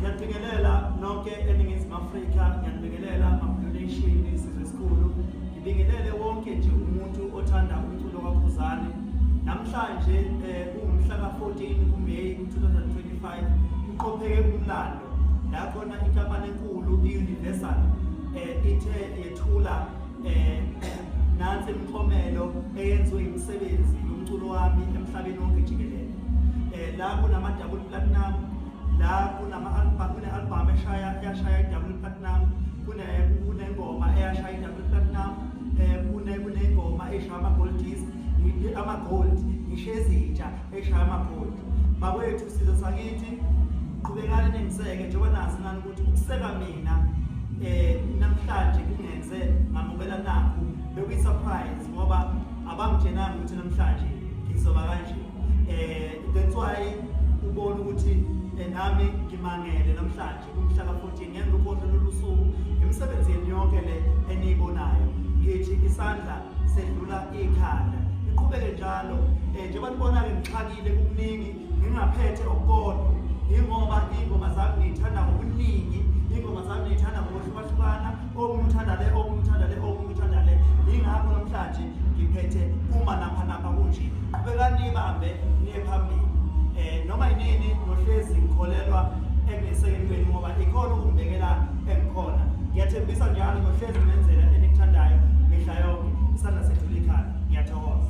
Ngiyabingelela nonke eNingizimu Afrika, ngiyabingelela amabululation isizwe esikhulu. Ngibingelele wonke nje umuntu othanda umculo kaKhuzani. Namhlanje eh kungumhla ka-14 kuMay 2025 kuqopheke umlando la khona inkampani enkulu i-Universal eh ithe yethula eh, nansi imiklomelo eyenziwe imisebenzi yomculo wami emhlabeni wonke jikelele eh, la kunama-double platinum la kune-albhamu eshaya yashaya i-double platinum kunengoma eyashaya i-double platinum um kunengoma eshaya ama-gold disc ama-gold ngisho ezintsha eshaya ama-gold bakwethu sizo sakithi qhubekani nengiseke njengoba nazi nani ukuseka mina eh namhlanje kungenze ngamukela nakho bekuyi surprise ngoba abangitshenanga ukuthi namhlanje ngizoba kanje eh that's why ubona ukuthi eh, nami ngimangele namhlanje kumhla ka 14 ngenza ukhohle lolusuku emsebenzini yonke le eniyibonayo ngithi isandla sedlula ikhanda iqhubeke njalo eh njengoba nibona ke ngixakile kukuningi ngingaphethe okukodwa yingoba iy'ngoma zami ngiyithanda ngobuningi iy'ngoma zami ngiyithanda ngokuhlukahlukana omunye uthanda le omunye uthanda le omunye uthanda le yingakho namhlanje ngiphethe uma napha napha kunje qhubekani ibambe niye phambili um noma yinini nohlezi ngikholelwa engisekeni kwenu ngoba ikhona ukumbekela engikhona ngiyathembisa njalo nohlezi ngenzela enikuthandayo mihla yonke isandla sethu likhanda ngiyathokoza